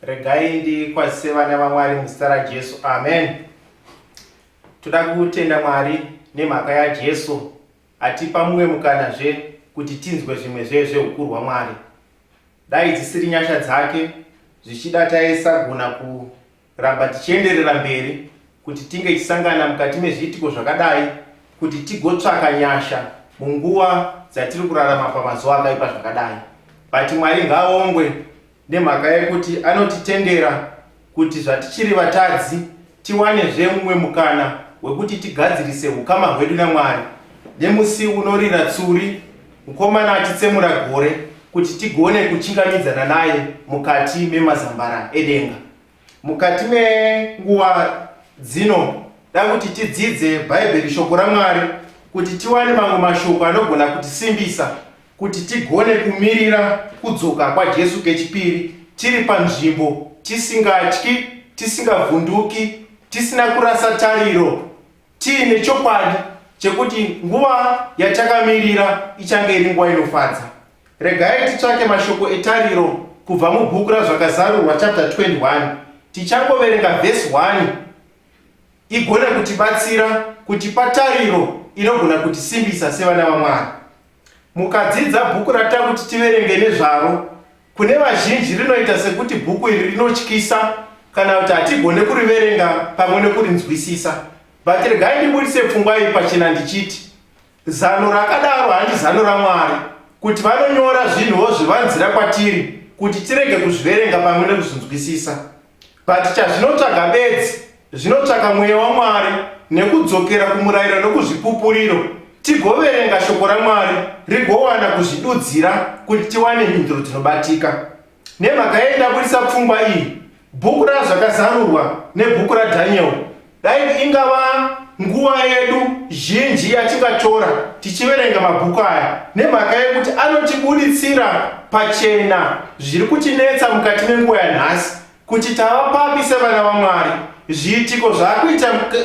regai ndikwazise vana vamwari muzita rajesu amen toda kutenda mwari nemhaka yajesu atipa mumwe mukanazve kuti tinzwe zvimwe zve zveukuru hwamwari dai dzisiri nyasha dzake zvichida taisagona Ramba tichienderera mberi kuti tinge tichisangana mukati mezviitiko zvakadai kuti tigotsvaka nyasha munguva dzatiri kurarama pamazuva akaipa zvakadai but mwari ngaongwe nemhaka yekuti anotitendera kuti zvatichiri vatadzi tiwanezve mumwe mukana wekuti tigadzirise ukama hwedu namwari nemusi unorira tsuri Mukomana achitsemura gore kuti tigone kuchingamidzana naye mukati memazambara edenga. Mukati menguva dzino da kuti tidzidze Bhaibheri, shoko raMwari, kuti tiwane mamwe mashoko anogona kutisimbisa kuti tigone kumirira kudzoka kwaJesu kechipiri tiri panzvimbo, tisingatyi, tisingavhunduki, tisina kurasa tariro Tiine chokwadi chekuti nguva yatakamirira ichange iri nguva inofadza. Regai titsvake mashoko etariro kubva mubhuku raZvakazarurwa chapter 21. Tichangoverenga vhesi 1 igone kutibatsira kutipa tariro inogona kutisimbisa sevana vaMwari. Mukadzidza bhuku ratida kuti tiverenge nezvaro, kune vazhinji rinoita sekuti bhuku iri rinotyisa kana kuti hatigone kuriverenga pamwe nekurinzwisisa. But regai ndibudise pfungwa iyi pachena ndichiti, zano rakadaro handi zano raMwari, kuti vanonyora zvinhuwo zvivanzira kwatiri kuti tirege kuzviverenga pamwe nekuzvinzwisisa. But chazvinotsvaga bedzi zvinotsvaka mweya waMwari nekudzokera kumurayiro nokuzvipupuriro tigoverenga shoko raMwari rigowana kuzvidudzira kuti tiwane mhinduro dzinobatika. Nemhaka yei ndabudisa pfungwa iyi? Bhuku raZvakazarurwa nebhuku raDhaniel Dai ingava nguva yedu zhinji yatingatora tichiverenga mabhuku aya nemhaka yekuti anotibuditsira pachena zviri kutinetsa mukati menguva yanhasi kuti tava papi sevana vaMwari, zviitiko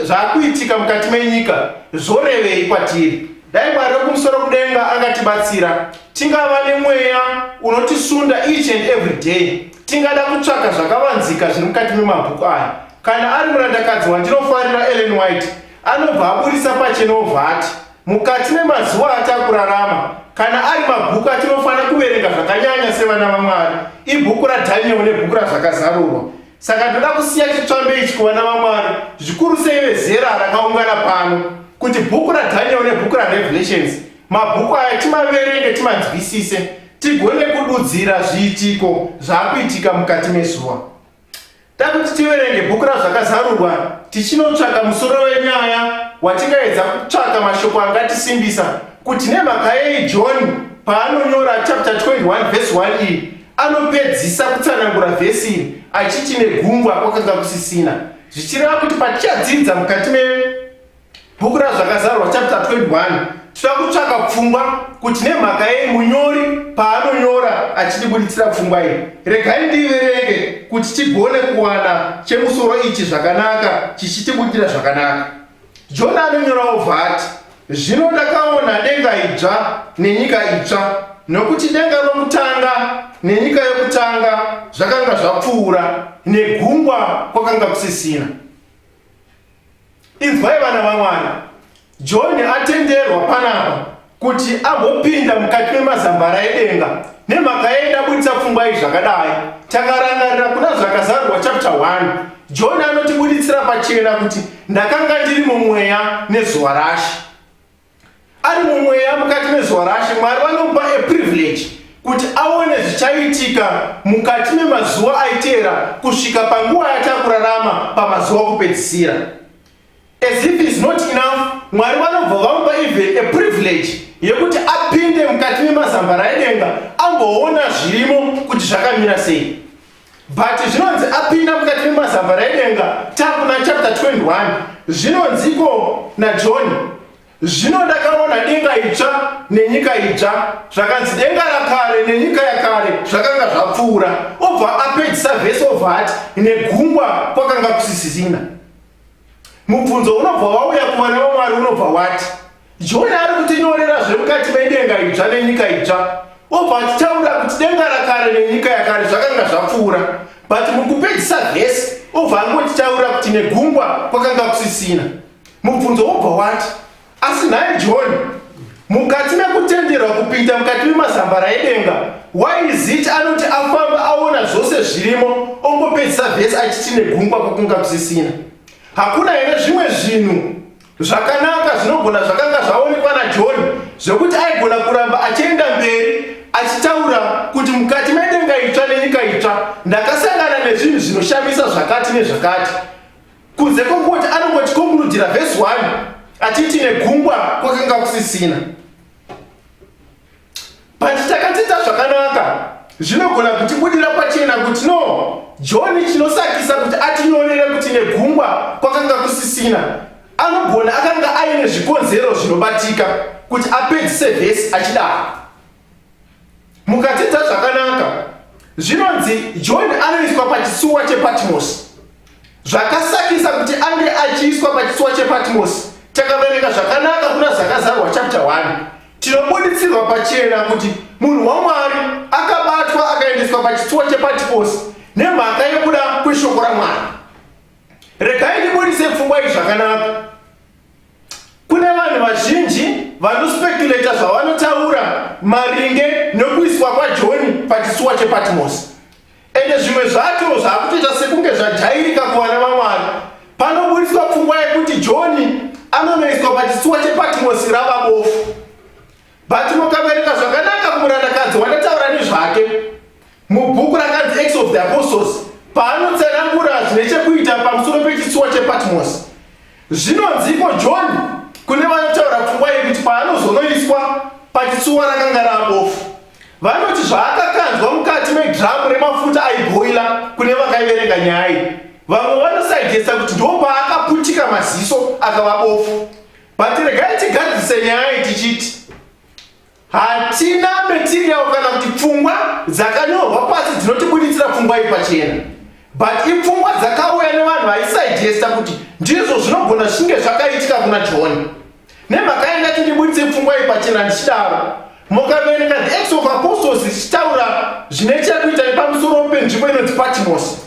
zvaakuitika mukati menyika zvorevei kwatiri. Dai Mwari wekumusoro kudenga angatibatsira tingava nemweya unotisunda each and every day tingada kutsvaka zvakavanzika zviri mukati memabhuku aya Kana ari murandakadzi wandinofarira Ellen White anobva aburitsa pachena obva ati, Mukati memazuva atakurarama, kana ari mabhuku atinofanira kuverenga zvakanyanya sevana vaMwari, ibhuku raDhanieri nebhuku raZvakazarurwa. Saka ndoda kusiya chitsvambe ichi kuvana vaMwari, zvikuru sei vezera rakaungana pano, kuti bhuku raDhanieri nebhuku raRevelations, mabhuku aya timaverenge, timanzwisise, tigone kududzira zviitiko zvakuitika mukati mezuva. Takuti tiverenge bhuku raZvakazarurwa tichinotsvaka musoro wenyaya watingaedza kutsvaka mashoko angatisimbisa kuti nemhaka yei John paanonyora chapter 21 vhesi 1 iyi anopedzisa kutsanangura vhesi iri achiti negungwa kwakanga kusisina zvichireva kuti patichadzidza mukati me Bhuku raZvakazarwa chapter 21 tinoda kutsvaka pfungwa kuti nemhaka yei munyori paanonyora achitibuditsira pfungwa iyi. Regai ndiverenge kuti tigone kuwana chemusoro ichi zvakanaka chichitibudira zvakanaka. Jona anonyora obva ati, Zvino ndakaona denga idzva nenyika itsva, nokuti denga rokutanga nenyika yokutanga zvakanga zvapfuura, negungwa kwakanga kusisina. Inzwai vana vaMwari, John atenderwa panapa kuti agopinda mukati memazambara edenga nemhaka yei ndabuditsa pfungwa iyi zvakadai. Takarangarira kuna Zvakazarurwa chapter 1, John anotibuditsira pachena kuti ndakanga ndiri mumweya nezuva rashe. ari mumweya mukati mezuva rashe mwari vanomupa a privilege kuti aone zvichaitika mukati memazuva aiteera kusvika panguva yatakurarama pamazuva kupedzisira as if is not enough mwari vanobva vamupa even a privilege yekuti apinde mukati memazambara edenga amboona zvirimo kuti zvakamira sei but zvinonzi apinda mukati memazamba raidenga takuna chapter 21 zvinonziko najohn zvino ndakaona denga itsva nenyika itsva zvakanzi denga rakare nenyika yakare zvakanga zvapfuura obva apedzisa vhesi obva ati negungwa kwakanga kusisisina mubvunzo unobva wauya kuva nevamwari unobva wati joni ari kutinyorera zvemukati medenga idzva nenyika idzva obva achitaura kuti denga rakare nenyika yakare zvakanga zvapfuura but mukupedzisa vhesi obva angotitaura kuti negungwa kwakanga kusisina mubvunzo wobva wati asi nhai john mukati mekutenderwa kupinda mukati memazambara edenga yzit anoti afamba aona zvose zvirimo ongopedzisa vhesi achiti negungwa kwakunga kusisina hakuna here zvimwe zvinhu zvakanaka zvinogona zvakanga zvaonekwa najohn zvekuti aigona kuramba achienda mberi achitaura kuti mukati medenga itsva nenyika itsva ndakasangana nezvinhu zvinoshamisa zvakati nezvakati Kunze kwokuti anongotikonkurudhira vhesi 1 achiti negungwa kwakanga kusisina. But takadzidza zvakanaka zvinogona kutibudira pachena kuti no johni chinosakisa kuti atinyorere kuti negungwa kwakanga kusisina anogona akanga aine zvikonzero zvinobatika kuti apedzise vhesi achidaro mukadzidza zvakanaka zvinonzi john anoiswa pachitsuwa chepatmosi zvakasakisa kuti ange achiiswa pachitsuwa chepatmosi takaverenga zvakanaka kuna zakazarwa chapta 1 tinobuditsirwa pachena kuti munhu wamwari akabatwa akaendeswa pachitsuwa chepatmosi nemhaka yekuda kweshoko ramwari regai ndibudise pfungwa izvi zvakanaka Kune vanhu vazhinji vanospekuleta zvavanotaura maringe nokuiswa kwaJoni pachitsuwa chePatmosi. Ende zvimwe zvacho zvakutoita sekunge zvadhairika kuvana vaMwari. Panoburitswa pfungwa yekuti Joni anonoiswa pachitsuwa chePatmosi rava bofu. But mukaverenga zvakanaka kumurandakadzi wandataura nezvake mubhuku rakanzi Acts of the Apostles paanotsanangura zvine chekuita pamusoro pechitsuwa chePatmos. Zvinonziko John kune vanotaura pfungwa yekuti paanozonoiswa pachitsuwa rakanga rabofu. Vanoti zvaakakanzwa mukati medhiramu remafuta aibhoila kune vakaiverenga nyaya iyi. Vamwe vanosaijesa kuti ndopaakaputika maziso akava bofu. but regai tigadzise nyaya iyi tichiti hatina material kana kuti pfungwa dzakanyorwa pasi dzinotibuditsira pfungwa iyi pachena but ipfungwa dzakauya nevanhu vaisaigesta kuti ndizvo zvinogona zvichinge zvakaitika kuna john nemhaka yanga tindibuditse pfungwa iyi pachena ndichidaro mukaverenga the acts of apostles zvichitaura zvine chekuita nepamusoro penzivo inonzi patimosi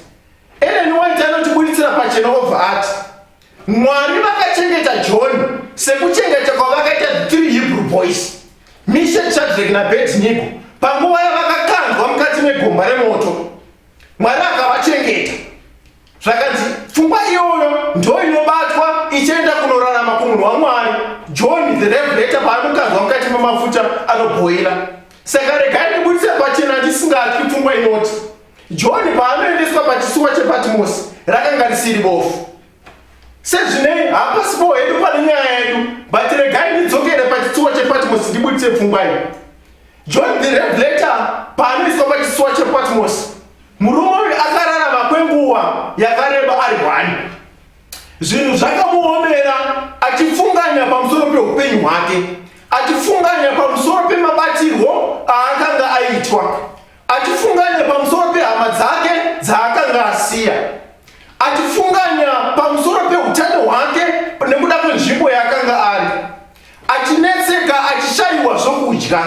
eleni waiti anotibuditsira pachena obva ati Mwari vakachengeta John sekuchengeta kwavakaita the three Hebrew boys, Mishack, Shadrach naAbednego, panguva yavakakandwa mukati megomba remoto. Mwari akavachengeta. Zvakanzi pfungwa iyoyo ndo inobatwa ichienda kunorarama kumunhu waMwari. John the Revelator paanokandwa mukati memafuta anobhoira. Saka regai ndibudise pachena ndisingatyi pfungwa inoti John paanoendeswa pachisuwa chePatimosi rakanga risiri bofu. Sezvinei hapasipo hedu pane nyaya yedu, but regai ndidzokere pachisuwa chePatimosi ndibuditse pfungwa iyi. John the Revelator paanoiswa pachisuwa chePatimosi, murume uyu akararama kwenguva yakareba ari hwani. Zvinhu zvakamuomera achifunganya pamusoro peupenyu hwake, achifunganya pamusoro pemabatirwo aakanga aitwa achifunganya pamusoro pehama dzake dzaakanga asiya achifunganya pamusoro peutano hwake nekuda kwenzvimbo yaakanga ari achinetseka achishaiwa zvokudya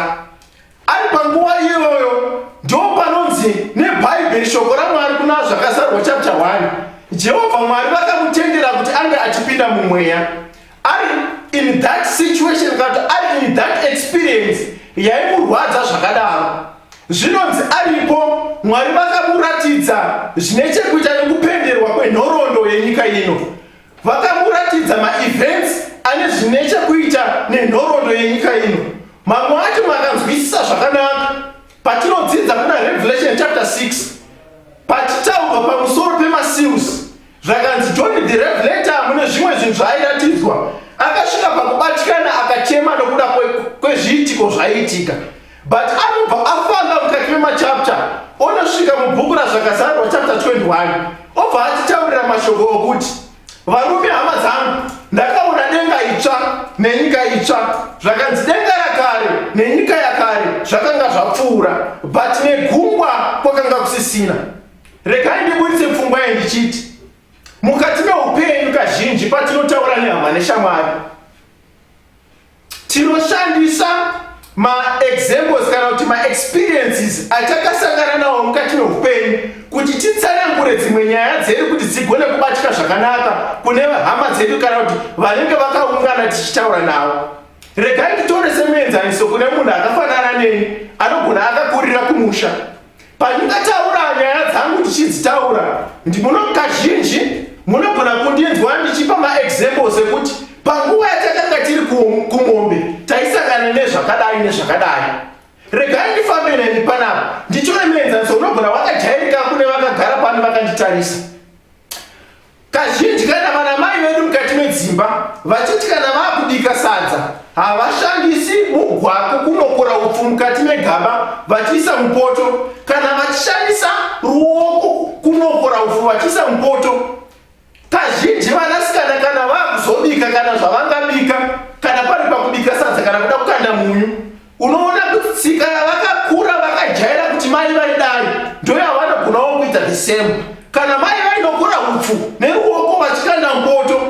ari panguva iyoyo ndo panonzi nebhaibheri shoko ramwari kuna zvakazarwa chapter 1 jehovha mwari vakamutendera kuti ange achipinda mumweya ari in that situation kana kuti ari in that experience yaimurwadza zvakadaro zvinonzi aripo mwari vakamuratidza zvine chekuita nekupenderwa kwenhoroondo yenyika ino vakamuratidza maevents ane zvine chekuita nenhoroondo yenyika ino mamwe acho makanzwisisa zvakanaka patinodzidza kuna revelation chapter 6 patitaurwa pamusoro pemaseals Zvakanzi John the Revelator mune zvimwe zvinhu zvaairatidzwa akasvika pakubatikana akachema nokuda kwezviitiko zvaiitika but anobva afamba mukati memachapter onosvika mubhuku razvakazarwa chapter 21 obva atitaurira mashoko okuti varume hama dzangu ndakaona denga itsva nenyika itsva zvakanzi denga yakare nenyika yakare zvakanga zvapfuura but negungwa kwakanga kusisina Regai ndiburitse pfungwa iyi ndichiti mukati meupenyu kazhinji patinotaura nehama neshamwari tinoshandisa maexamples kana kuti maexperiences atakasangana nawo mukati meupenyu kuti titsanangure dzimwe nyaya dzedu kuti dzigone kubatika zvakanaka kune hama dzedu kana kuti vanenge vakaungana tichitaura navo regai titore semuenzaniso kune munhu akafanana neni anogona akakurira kumusha Pandingataura nyaya dzangu ndichidzitaura, ndimuno kazhinji munogona kundinzwa ndichipa maexamples ekuti panguva yatakanga tiri kumombe taisangana nezvakadai nezvakadai. Regai ndifambe neni panapa ndichone muenzaniso unogona wakajairika kune vakagara pano vakanditarisa. Kazhinji kana vana mai vedu mukati medzimba vachiti kana vakubika sadza havashandisi mugwako kunokora upfu mukati megaba vachiisa mupoto kana vachishandisa ruoko kunokora upfu vachiisa mupoto. Kazhinji vanasikana kana vakuzobika kana zvavangabika kana pari pakubika sadza kana kuda kukanda munyu unoona kuti tsika yavakakura vakajaira kuti mai vaidai ndoyavanogonawo kuita the same kana mai vainogura upfu neruoko vachikanda mpoto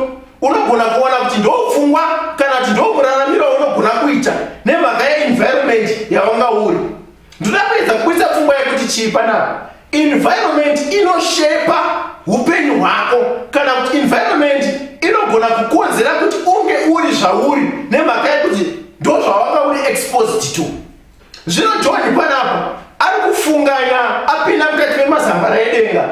unogona kuona kuti ndopfungwa kana kuti ndokuraramira unogona kuita nemhaka yeenvironment yavanga uri ndoda kuedza kuisa pfungwa yekuti chii panapa Environment inoshepa upenyu hwako kana kuti environment inogona kukonzera kuti unge uri zvauri nemhaka yekuti ndozvawanga uri exposed to. Zvino John panapa ari kufunganya apinda mukati memazambara edenga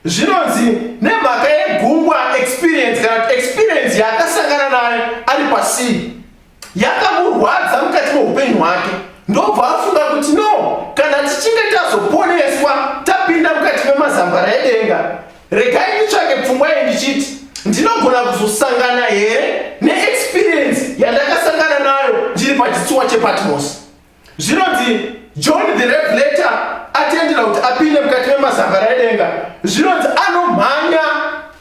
zvinonzi nemhaka yegungwa experience kana experience yaakasangana nayo ari pasii yakamurwadza mukati meupenyu hwake ndobva afunga kuti no kana tichinge tazoponeswa tapinda mukati memazambara edenga regai nditsvake pfungwa ye ndichiti ndinogona kuzosangana here neexperiensi yandakasangana nayo ndiri pachitsuwa chepatmosi Zvinonzi John the Revelator atendera kuti apinde mukati memazambara edenga. Zvinonzi anomhanya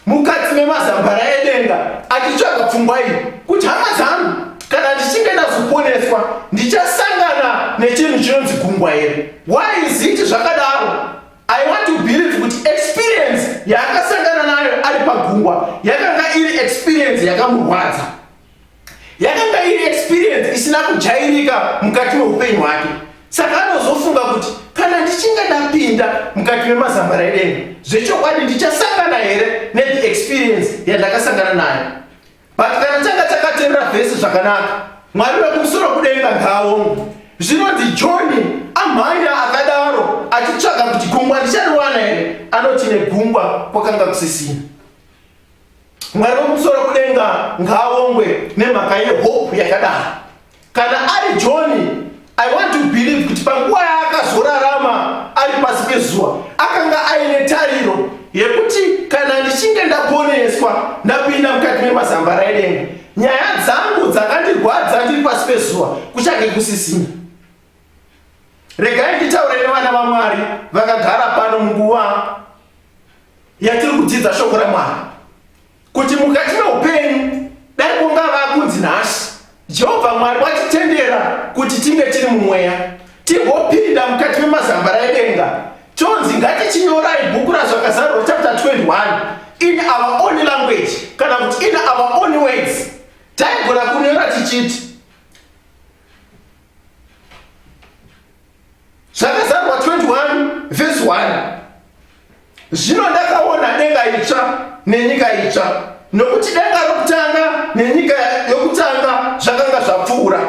mukati memazambara edenga achitsvaga pfungwa iyi kuti hama dzangu, kana ndichinge ndazoponeswa ndichasangana nechinhu chinonzi gungwa here? Why is it zvakadaro? I want to believe kuti experience yaakasangana nayo ari pagungwa yakanga iri experience yakamurwadza. yakanga iri experience isina kujairika mukati meupenyu hwake saka anozofunga kuti kana ndichinge ndapinda mukati memazambara edenga zvechokwadi ndichasangana here nethe experience yandakasangana nayo but kana changa chakaterera vhesi zvakanaka mwari vekumusoro kudenga ngaomwe zvinonzi johni amhanya akadaro achitsvaga kuti gungwa ndichariwana here anoti negungwa kwakanga kusisina mwari womusoro kudenga ngaawongwe nemhaka yehope yakadaro kana ari johni i want to believe kuti panguva yaakazorarama ari pasi pezuva akanga aine tariro yekuti kana ndichinge ndaponeswa ndapinda mukati memazamba raidenga nyaya dzangu dzakandirwadza ndiri pasi pezuva kuchange kusisina regai nditaure nevana vamwari vakagara pano munguva yatiri kudzidza shoko ramwari kuti mukati meupenyu dai kunga vakunzi nhasi jehovha mwari watitendera kuti tinge tiri mumweya tigopinda mukati memazambara edenga chonzi ngatichinyorai bhuku razvakazarwa chapter 21 in our own language kana kuti in our own words taigona kunyora tichiti zvakazarwa 21 vhesi 1 zvino ndakaona denga itsva nenyika itsva nokuti denga rokutanga nenyika yokutanga zvakanga zvapfuura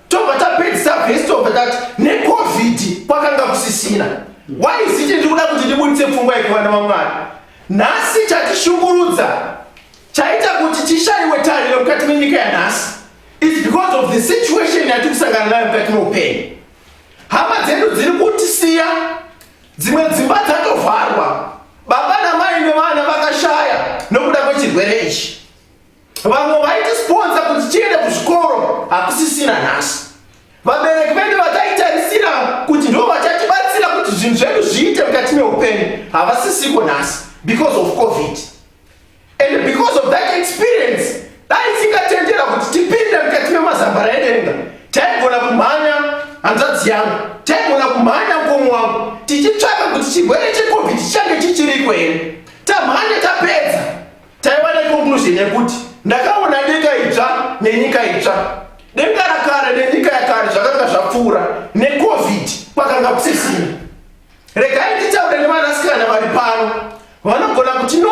tobva tapedzisa vhesi tobva tati necovid kwakanga kusisina waiziti ndiri kuda kuti ndibuditse pfungwa yekuvana vamwari nhasi chatishungurudza chaita kuti tishaiwe tariro mukati menyika yanhasi It's because of the situation yati kusangana nayo mukati meupenyu. Hama dzedu dziri kutisiya, dzimwe dzimba dzatovharwa, baba namai nevana vakashaya nokuda kwechirwere ichi. Vamwe vaitisiponza kuti tiende kuzvikoro hakusisina nhasi. Vabereki vedu vataitarisira kuti ndo vachatibatsira kuti zvinhu zvedu zviite mukati meupenyu havasisiko nhasi because of covid. And because of that experience, dai isingatendera kuti tipinde mukati memazambara edenga, taigona kumhanya hanzvadzi yangu, taigona kumhanya mkomo wangu, tichitsvaka kuti chirwere cheCovid chichange chichiriko here. Tamhanya tapedza, taiwana conclusion yekuti ndakaona denga idzva nenyika idzva. Denga rakare nenyika yakare zvakanga zvapfuura, neCovid kwakanga kusisina. Regai nditaure nevanasikana vari pano vanogona kuti no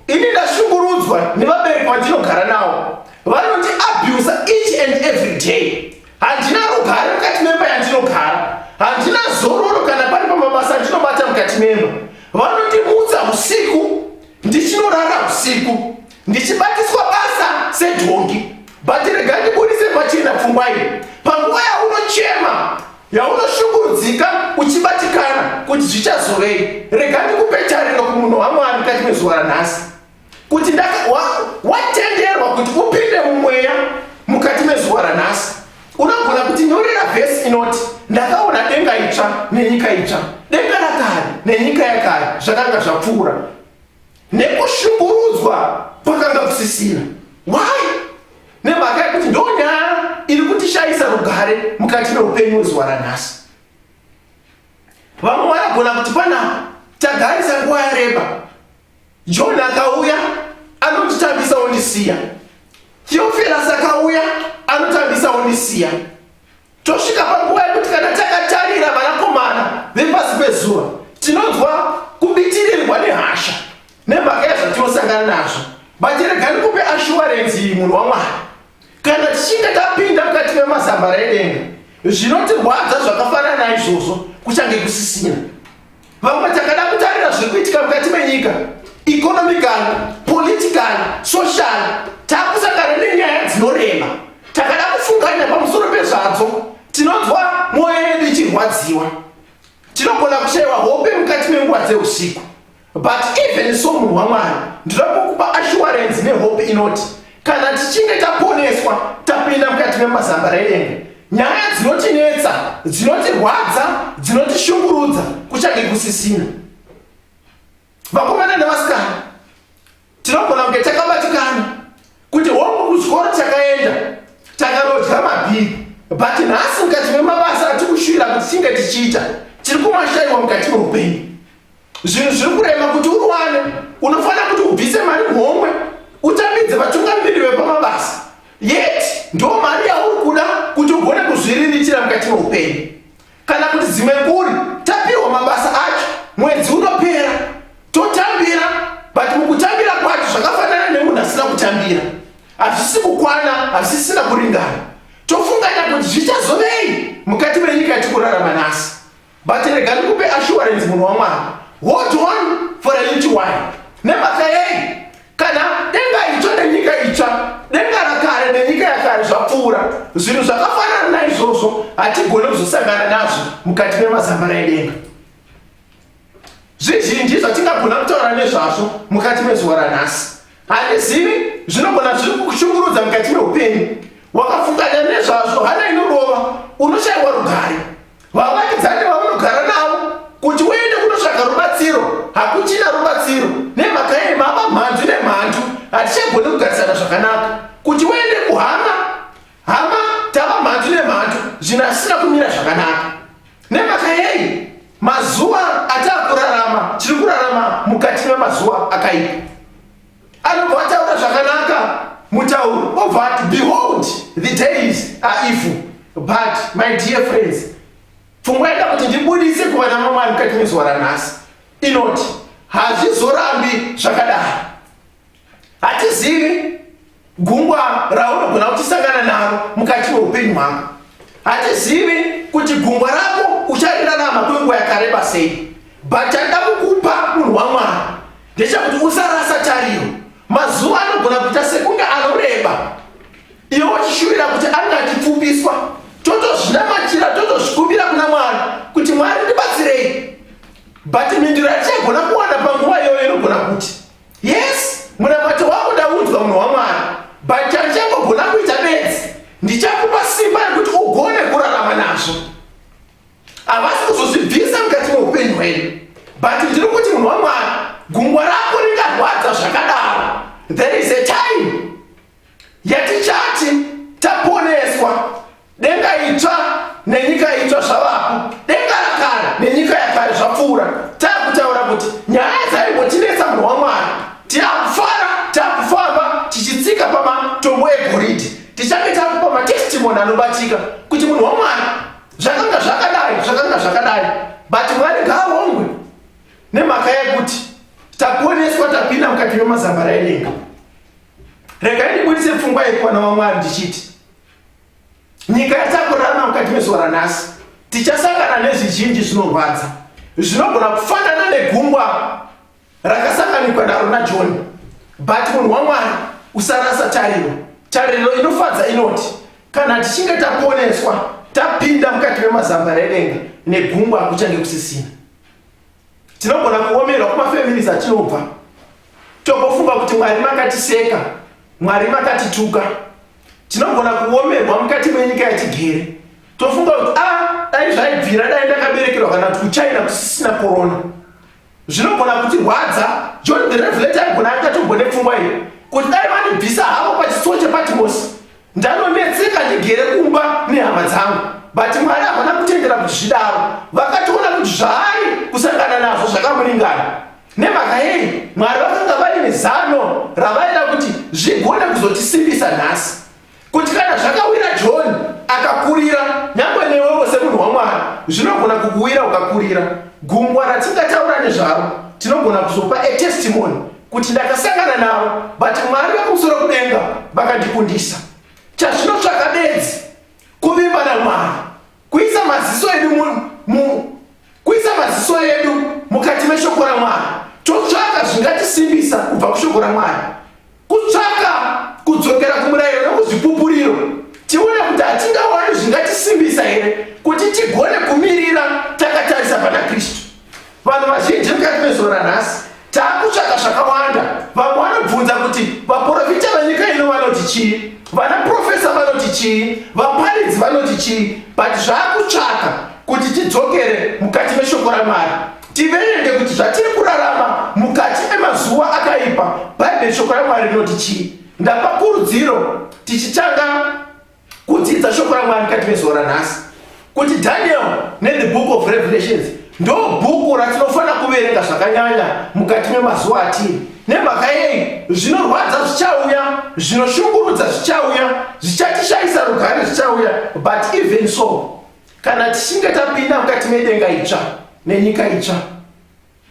ini ndashungurudzwa nevabereki vandinogara navo vanoti abusa each and every day handina rugare mukati memba yandinogara handina zororo kana pari pamabasa andinobata mukati memba vanondimutsa usiku ndichinorara usiku ndichibatiswa basa sedhongi but rega ndibudise pachena pfungwa iyi panguva yaunochema yaunoshungurudzika uchibatikana kuti zvichazovei rega ndikupe tariro kumunhu wamwari kati mezuva ranhasi kuti watenderwa kuti upinde mumweya mukati mezuva ranhasi unogona kuti nyorera vhesi inoti ndakaona denga itsva nenyika itsva denga rakare nenyika yakare zvakanga zvapfuura nekushungurudzwa kwakanga kusisina why nemhaka yekuti ndonyaya iri kutishayisa rugare mukati meupenyu wezuva ranhasi vamwe vanogona kuti pana tagarisa nguva yareba john akauya anotitambisa ondisiya theofilas akauya anotambisa ondisiya tosvika panguva yekuti kana takatarira vanakomana vepasi pezuva tinonzwa kubitirirwa nehasha nemhaka yezvatinosangana nazvo baterega ndikupe ashuwarenzi iyi munhu wamwari kana tichinge tapinda mukati memazambara edenga zvinotirwadza zvakafanana izvozvo kuchange kusisina Vamwe takada kutarira zviri kuitika mukati menyika economical, political, social takusangana nenyaya dzinorema takada kufunganya pamusoro pezvadzo tinonzwa mwoyo yedu ichirwadziwa tinogona kushaiwa hope mukati menguva dzeusiku but even so munhu wamwari ndinokukupa assurance nehope inoti Kana tichinge taponeswa tapinda mukati memazamba redenga, nyaya dzinotinetsa, dzinotirwadza, dzinotishungurudza kuchange kusisina. Vakomana nevasikana, tinogona kunge takabatikana kuti hongu kuchikoro takaenda takarodya mabhiri but nhasi mukati memabasa atikushuvira kuti tinge tichiita tiri kumashaiwa mukati meupenyu zvinhu zviri kurema kuti uwane unofanira kuti ubvise mari homwe utambidze vatungamiriri vepamabasa yet ndo mari yauri kuda kuti ugone kuzviririchira mukati meupenyu kana kuti dzimwe kuri tapihwa mabasa acho mwedzi unopera totambira but mukutambira kwacho zvakafanana nemunhu asina kutambira hazvisi kukwana hazvisina kuringana tofunganya kuti zvichazovei mukati menyika yatikurarama nhasi but rega ndikupe assurance munhu wamwari hold on for a little while nemhaka yei kana denga itsva nenyika itsva denga rakare nenyika yakare zvapfuura zvinhu zvakafanana naizvozvo hatigone kuzosangana nazvo mukati memazambara edenga zvizhinji zvatingagona kutaura nezvazvo mukati mezuva ranhasi handizivi zvinogona zviri kushungurudza mukati meupenyu wakafunganya nezvazvo hana inorova unoshaiwa rugare vavakidzani vaunogara navo kuti uende kunotsvaga rubatsiro hakuchina rubatsiro nemhaka yei mava mhandu nemhandu hatichagoni kugarisana zvakanaka kuti uende kuhama hama tava mhandu nemhandu zvinhu asisina kumira zvakanaka nemhaka yei mazuva ataakurarama tiri kurarama mukati memazuva akaipa Anobva ataura zvakanaka mutauro obva ati behold the days are evil but my dear friends pfungwa ida kuti ndibudise kuvana mamwari mukati muzuva ranhasi inoti hazvizorambi zvakadaro hatizivi Gungwa raunogona kuchisangana naro mukati meupenyu hwako. Hatizivi kuti gungwa rako ucharirarama kwenguva yakareba sei, but chanda kukupa munhu waMwari ndechakuti usarasa tariro. Mazuva anogona kuita sekunge anoreba, iwe uchishuvira kuti ange achipfupiswa. Totozvinamatira, totozvikumbira kuna Mwari kuti Mwari ndibatsirei, but mhinduro yatichagona kuwana panguva iyoyo inogona kuti yes munamato wangu ndaudzwa munhu wamwari but chandichangogona kuita bedzi ndichakupa simba rekuti ugone kurarama nazvo havasi kuzozvibvisa mukati meupenyu hwedu but ndiri kuti munhu wamwari gungwa rako ringarwadza zvakadaro there is a time yatichati taponeswa Denga itsva nenyika itsva zvavapo, denga rakare nenyika yakare zvapfuura. Takutaura kuti nyaya dzaimbotinetsa munhu waMwari tiakufara, takufamba tichitsika pamatombo egoridhe, tichange takupa matestimony anobatika kuti munhu waMwari zvakanga zvakadai, zvakanga zvakadai, but Mwari ngaarongwe nemhaka yekuti taponeswa tapinda mukati memazambara edenga. Regai ndibudise pfungwa yekuwana waMwari ndichiti nyika yatakurama mukati mezuva ranhasi tichasangana nezvizhinji zvinorwadza zvinogona kufanana negungwa rakasanganikwa naro najoni but munhu wamwari usarasa tariro tariro inofadza inoti kana tichinge taponeswa tapinda mukati memazambara edenga negungwa kuchange kusisina tinogona kuomerwa kumafeminisi atinobva togofunga kuti mwari makatiseka mwari makatituka tinogona kuomerwa mukati menyika yatigere tofunga kuti a ah, dai zvaibvira dai ndakaberekerwa kana kuti kuchina kusisina korona zvinogona kuti rwadza john the revelator aigona akatogone pfungwa iyo kuti dai vanibvisa havo pachitsuwo chepatimosi Ndanonetseka ndigere kumba nehama dzangu but Mwari havana kutendera kuti zvidaro. Vakatoona kuti zvaari kusangana nazvo zvakamuringana. Nemhaka yei? Mwari vakanga vaine zano ravaida kuti zvigone kuzotisimbisa nhasi. Kuti kana zvakawira John akakurira, nyangwe newewo semunhu waMwari, zvinogona kukuwira ukakurira. Gungwa ratingataura nezvaro tinogona kuzopa a testimony kuti ndakasangana navo but mwari vakumusoro kudenga vakandikundisa chazvinotsvaka bedzi kuvimba namwari kuisa maziso edu kuisa maziso edu mukati meshoko ramwari totsvaka zvingatisimbisa kubva kushoko ramwari kutsvaka kudzokera kumurayiro nokuzvipupuriro tione kuti hatingawani zvingatisimbisa here kuti tigone kumirira takatarisa pana kristu Vanhu vazhinji mukati mezuva ranhasi taakutsvaka zvakawanda. Vamwe vanobvunza kuti vaprofita venyika ino vanoti chii, vanaprofesa vanoti chii, vaparidzi vanoti chii, but zvaakutsvaka kuti tidzokere mukati meshoko ramwari tiverenge kuti zvatiri kurarama mukati emazuva akaipa bhaibheri shoko ramwari rinoti chii ndapa kurudziro tichitanga kudzidza shoko ramwari kati vezuva ranhasi kuti daniel nethe book of revelations ndo bhuku ratinofanira kuverenga zvakanyanya mukati memazuva atiri nemhaka yei zvinorwadza zvichauya zvinoshungurudza zvichauya zvichatishayisa rugare zvichauya but even so kana tichinge tapinda mukati medenga itsva nenyika itsva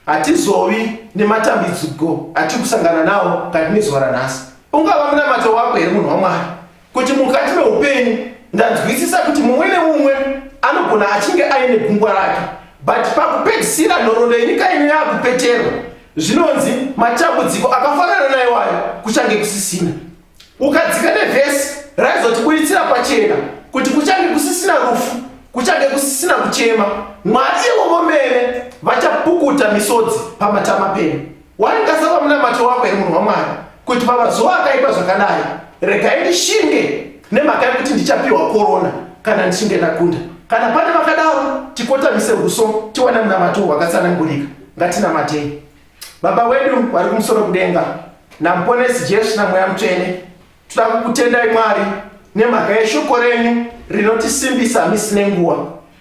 Hatizovi nematambidziko atiri kusangana nawo kati nezuva ranhasi. Ungava munamato wako here munhu waMwari kuti mukati meupenyu ndanzwisisa kuti mumwe neumwe anogona achinge aine gungwa rake but pakupedzisira nhoroondo yenyika ino yakupeterwa zvinonzi matambudziko akafanana naiwayo kuchange kusisina. ukadzika nevhesi raizotibuditsira pachena kuti kuchange kusisina rufu kuchange kusisina kuchema mwari ivo vomene vachapukuta misodzi pamatama penu waingasava munamato wako here munhu wamwari kuti pamazuva akaipa zvakadai regai ndishinge nemhaka yekuti ndichapiwa korona kana ndichinge ndakunda kana pane vakadaro tikotamise uso tiwana munamato wakatsanangurika ngatinamatei Baba wedu vari kumusoro kudenga, naMuponesi Jesu naMweya Mutsvene, toda kukutendai Mwari nemhaka yeshoko renyu rinotisimbisa misi nenguva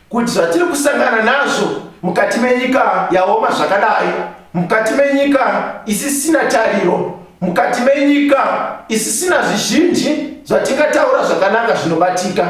kuti zvatiri kusangana nazvo mukati menyika yaoma zvakadai, mukati menyika isisina tariro, mukati menyika isisina zvizhinji zvatingataura zvakanaka zvinobatika,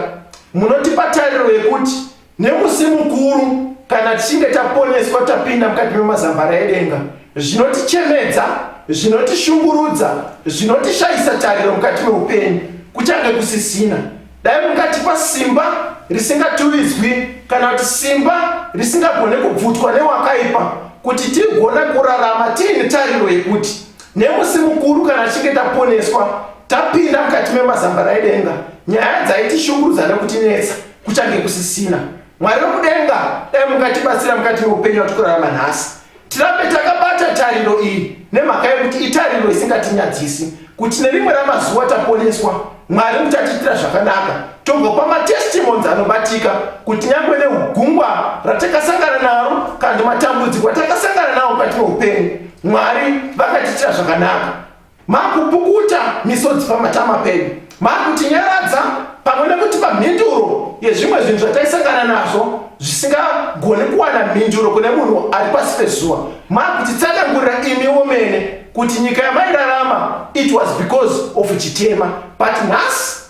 munotipa tariro yekuti Nemusi mukuru, kana tichinge taponeswa tapinda mukati memazambara edenga, zvinotichemedza, zvinotishungurudza, zvinotishayisa tariro mukati meupenyu kuchange kusisina. Dai mukatipa simba risingatuvidzwi kana kuti simba risingagone kubvutwa newakaipa kuti tigone kurarama tiine tariro yekuti nemusi mukuru kana tichinge taponeswa tapinda mukati memazambara edenga nyaya dzaitishungurudza nekutinetsa kuchange kusisina mwari wekudenga dai mukatibatsira mukati meupenyu watikurarama nhasi tirambe takabata tariro iyi nemhaka yekuti itariro isingatinyadzisi kuti nerimwe ramazuva taponeswa mwari muchatiitira zvakanaka togopa matestimons anobatika kuti nyangwe neugungwa ratakasangana naro kana matambudziko atakasangana nawo mukati meupenyu mwari vakatiitira zvakanaka Makupukuta misodzi pamatama pedu, makutinyaradza pamwe nekutipa mhinduro yezvimwe zvinhu zvataisangana nazvo zvisingagoni kuwana mhinduro kune munhu ari pasi pezuva. Makutitsanangurira imiwo mene kuti nyika yamairarama it was because of chitema but nhasi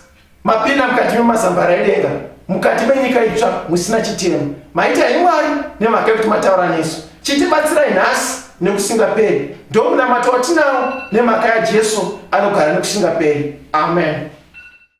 Mapinda mukati memazambara edenga, mukati menyika itsva musina chitemo. Maita imwari nemhaka yekuti mataura nesu. Chitibatsirai nhasi nekusingaperi. Ndomunamato watinawo nemhaka yaJesu anogara nekusingaperi. Amen.